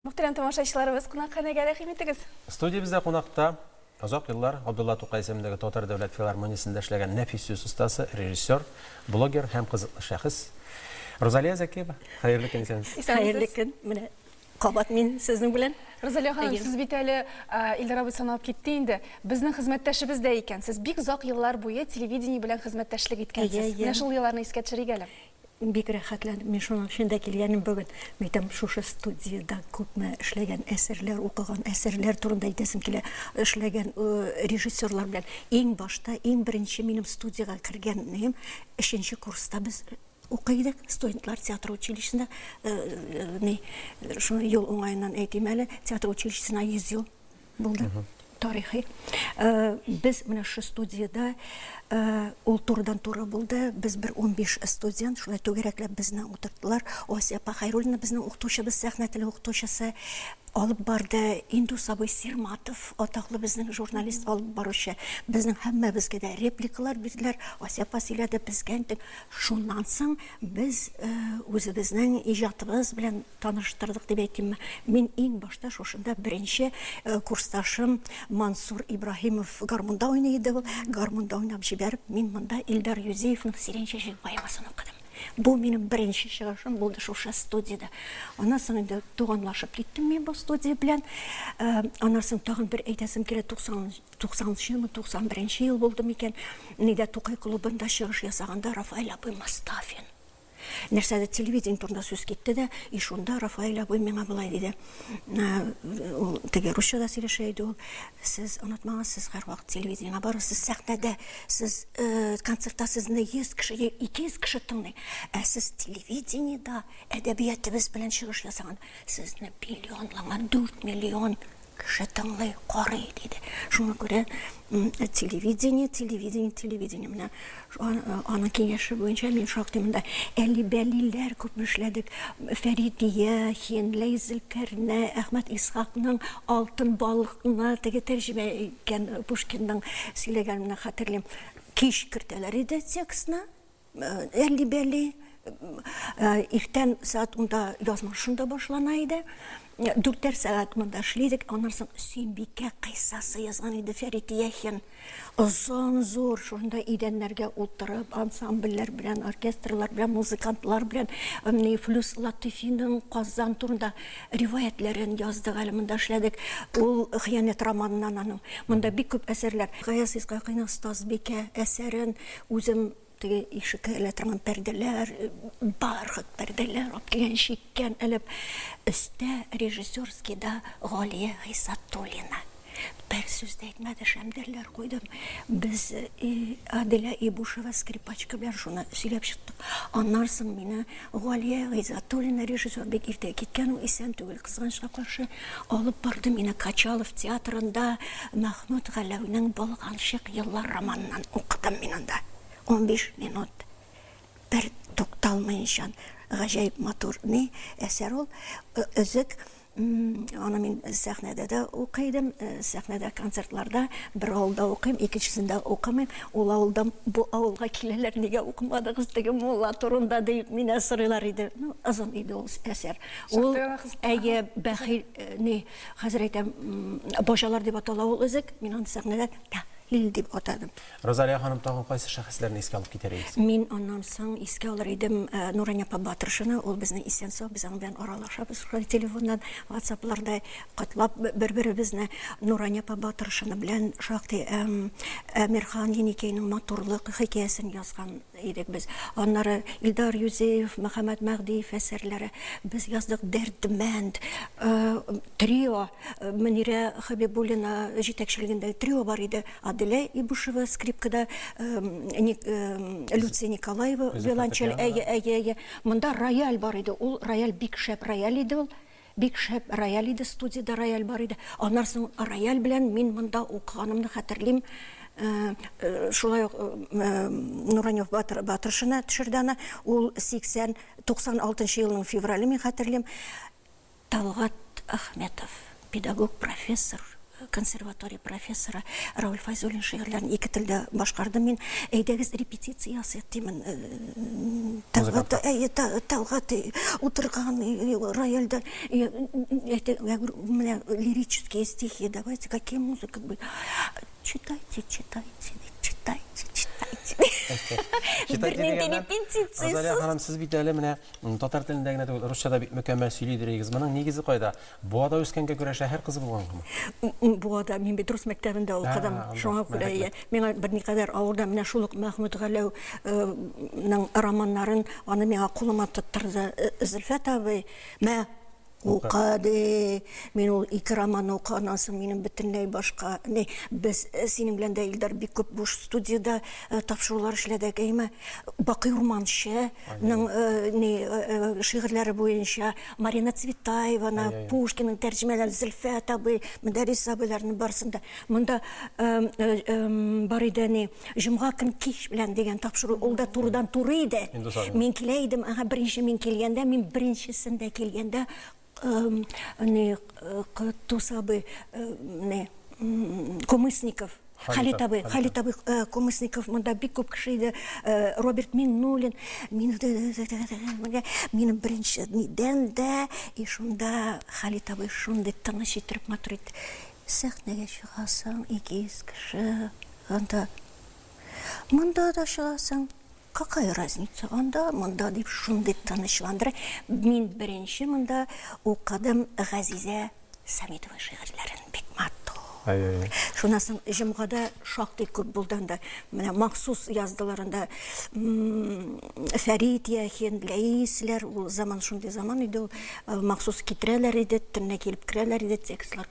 Мөхтәрәм тамашачыларыбыз, кунакханәгә рәхим итегез! Студиябездә кунакта, озак еллар Габдулла Тукай исемендәге Татар дәүләт филармониясендә эшләгән нәфис сүз остасы, режиссер, блогер һәм кызыклы шәхес Рузалия Зәкиева. Хәерле көн, исәнмесез! Хәерле көн! Менә кабат мин сезнең белән. Рузалия ханым, сез бит әле Илдар абый саналып китте инде. Безнең хезмәттәшебез дә икән. Сез бик озак еллар буе телевидение белән хезмәттәшлек иткәнсез. Менә шул елларны искә төшерик әле. Бик рәхәтләнеп мин шуның өчен дә килгәнем бүген. Мәйтәм, шушы студиядә күпме эшләгән әсәрләр, укыган әсәрләр турында әйтәсем килә. Эшләгән э, режиссерлар белән. Иң башта, иң беренче минем студиягә кергәнем, өченче курста без укый идек, студентлар театр училищесында, э, э, ни, шуны юл уңаеннан әйтим әле, театр училищесына 100 ел Булды. Тарихи. Э, без менә шу студияда э, ул турыдан туры булды. Без бер 15 студент шулай түгәрәкләп безне утырттылар. Асия апа Хайруллина безнең укытучыбыз, сәхнә теле укытучысы алып барды. Инду сабый Сирматов, атаклы безнең журналист алып баручы. Безнең һәммәбезгә дә репликалар бирделәр. Асия апа сөйләде, безгә интек. Шуннан соң без э, үзебезнең иҗатыбыз белән таныштырдык дип әйтимме мин иң башта шушында беренче э, курсташым мансур ибраһимов гармунда уйный иде ул гармунда уйнап җибәреп мин монда илдар юзеевның сирень чәчәге поэмасын укыдым бу минем беренче чыгышым булды шушы студияда аннан соң инде туганлашып киттем мин бу студия белән э, аннан соң тагын бер әйтәсем килә туксанынчы елмы туксан беренче ел булды микән нидә тукай клубында чыгыш ясаганда рафаэль абый мостафин Нәрсәдер телевидение турында сүз китте дә, и шунда Рафаэль абый миңа болай диде. Ул теге русчада сөйләшә иде ул. Сез онытмагыз, сез һәрвакыт телевидениегә барыгыз, сез сәхнәдә, сез э, концертта сезне 100 кеше, 200 кеше тыңлый. Ә сез телевидениедә әдәбиятыбыз белән чыгыш ясаган, сезне миллионланган, 4 миллион Кеше тыңлый, карый, диде. Шуңа күрә телевидение, телевидение, телевидение. Менә аның киңәше буенча мин шактый монда әли-бәлиләр күп эшләдек. Фәридия, Хенлей, Зелкәрнә, Әхмәт Исхакның Алтын балыкны теге тәрҗемә иткән Пушкинның сөйләгәнен хәтерлим. Кич кертәләр иде текстны. әлли-бәлли. Иртән сәгать унда язма шунда башлана иде. Дүртәр сәгать монда эшлидек, аннан соң Сөембикә кыйссасы язган иде Фәрит Яхин. Озын зур, шунда идәннәргә утырып, ансамбльләр белән, оркестрлар белән, музыкантлар белән, менә Флюс Латыйфиның Казан турында риваятләрен яздык әле монда эшләдек. Ул хыянәт романыннан аның. Монда бик күп әсәрләр. Гаяз Исхакыйның Стазбикә әсәрен Үзем теге ишеккә элә торган пәрдәләр, бархат пәрдәләр алып килгән, чиккән элеп. Өстә режиссерскийда Галия Гыйсатуллина. Бер сүз дә әйтмәде, шәмдәлләр куйдым. Без Аделя Ибушева, скрипачка белән шуны сөйләп чыктык. Аннан соң мине Галия Гыйззатуллина, режиссер, бик иртә киткән ул, исән түгел, кызганычка каршы. Алып барды мине Качалов театрында, Мәхмүт Галәүнең Болганчык еллар романыннан укыдым мин анда. Унбиш минут бер тукталмыенчан, гаҗәеп матур ни әсәр ул, Өзек Аны мин сәхнәдә дә укый идем, сәхнәдә концертларда бер авылда укыйм, икенчесендә укымыйм. Ул авылдан бу авылга киләләр, нигә укымадыгыз теге мулла турында дип мине сорыйлар иде. Ну, озын иде ул әсәр. Ул әйе, бәхил, ни, хәзер әйтәм, баҗалар дип атала ул өзек, мин аны сәхнәдә тәхлил дип атадым. Розалия ханым, тагын кайсы шәхесләрне искә алып китәр идегез? Мин аннан соң искә алыр идем Нурания апа Батыршина, ул безнең исән-сау, без аның белән аралашабыз шулай телефоннан, ватсапларда котлап бер-беребезне. Нурания апа Батыршина белән шактый Әмирхан Еникәйнең матурлык хикәясен язган Идек без. Аннары Илдар Юзеев, Мөхәммәт Мәгъдиев әсәрләре. Без яздык Дәрдмәнд, трио, Мөнирә Хәбибуллина җитәкчелегендәге трио бар иде. Аделя Ибушева скрипкада, Люция Николаева виолончель. Әйе, әйе, әйе. Монда рояль бар иде. Ул рояль бик шәп рояль иде ул. Бик шәп рояль иде, студиядә рояль бар иде. Аннан соң рояль белән мин монда укыганымны хәтерлим. Шулай ук Нуранев Батыршина төшерде аны. Ул 80, 96 нчы елның феврале, мин хәтерлим. Талгат Ахметов, педагог, профессор. консерватория профессоры Рауль Файзуллин шигырьләрен ике телдә башкардым мин. Әйдәгез репетиция ясыйк димен. Э, Тәлгат э, Тәлгат э, утырган рояльдә менә лирические стихи. Давайте какие музыка будет. Читайте, читайте, читайте, читайте. Бернинди репетициясез. Розалия ханым, сез бит әле менә татар телендә генә түгел, русча да бик мөкәммәл сөйли дирегез. Моның нигезе кайда? Буада үскәнгә күрә шәһәр кызы булгангамы? Буада, мин бит рус мәктәбендә укыдым, шуңа күрә ия. Миңа берникадәр авыр да, менә шул ук Мәхмүт Галәүнең романнарын, аны миңа кулыма тоттырды Зөлфәт абый, мә, укы, ди. Мин ул ике романны укыганнан соң, минем бөтенләй башка, ни, без синең белән дә, Илдар, бик күп буш студиядә тапшырулар эшләдек, әйеме? Бакый Урманченың, ни, шигырьләре буенча Марина Цветаеваны, ай, ай, Пушкинын тәрҗемәләрен, Зөлфә абый, Мөдәррис абыйларның барысын да. Монда бар иде әни, җомга көн кич белән дигән тапшыру, ул да турыдан туры иде. Мин килә идем, ага, беренче мин килгәндә, мин беренчесендә килгәндә, не, Кытус абый, не, Кумысников, Халит абый, Халит абый э, Комысников, монда бик күп кеше иде, э, Роберт Миннулин, мин минем беренче нидән дә, и шунда Халит абый шундый тыныч итеп матур итеп сәхнәгә чыгасың, 200 кеше, анда монда да чыгасың, Какая разница анда, монда, дип шундый тынычландыра. Мин беренче монда укыдым Газизә Самитова шигырьләрен. Бик матур. Шуннан соң җомгада шактый күп булды анда. Менә махсус яздылар анда Фәрит Яхин, Ләисләр, ул заман шундый заман иде ул. Махсус китерәләр иде, төнлә килеп керәләр иде, текстлар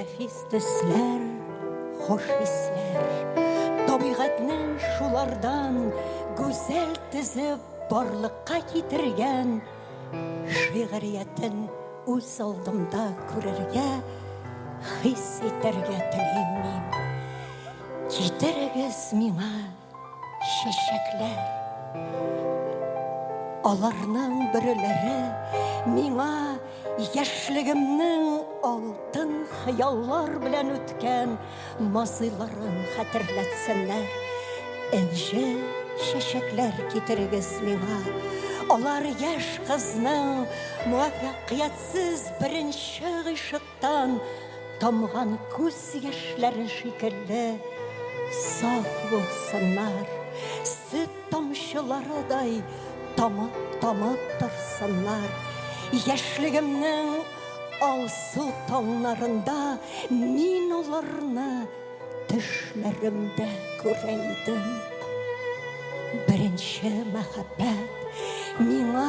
Нәфис төсләр, хуш исләр, табигатьнең шулардан гүзәл тезеп барлыкка китергән шигъриятен үз алдымда күрергә, хис итәргә телим мин. Китерегез миңа. Чәчәкләр. Аларның бөреләре миңа яшьлегемнең алтын хыяллар белән үткән мазыйларын хәтерләтсеннәр. Энҗе чәчәкләр китерегез миңа. Алар яшь кызның муафәкыятьсез беренче гыйшык Тан тамган күз яшьләре шикелле саф булсыннар, сөт тамчыларыдай тамып тамып торсыннар. Яшьлегемнең алсу таңнарында мин аларны төшләремдә күрә идем. Беренче мәхәббәт миңа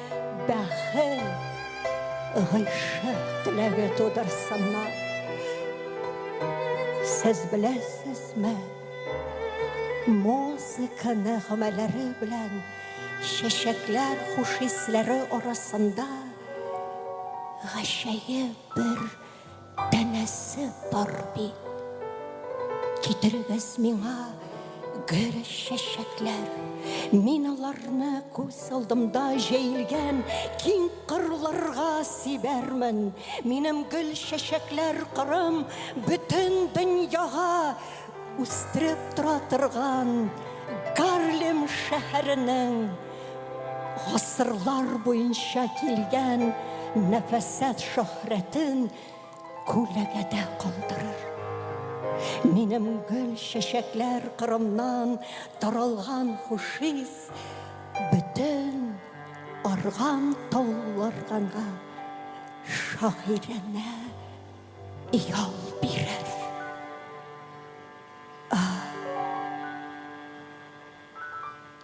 Бәхет, гыйшык теләге тудырсыннар. Сез беләсезме, музыканы гамәлләре белән чәчәкләр хуш исләре арасында гаҗәеп бер Данәсе бар бит. Китерегез миңа гөр чәчәкләр. Мин аларны күз алдымда җәелгән киң кырларга сибәрмен. Минем гөл чәчәкләр кырым бөтен дөньяга үстереп тора торган Гарлем шәһәренең Гасырлар буенча килгән нәфәсәт шөһрәтен күләгәдә калдырыр. Минем гөл чәчәкләр кырымнан таралган хушис бөтен арган тауларганга шагыйрәнә ял бирер.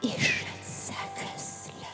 Ишетсәгез лә.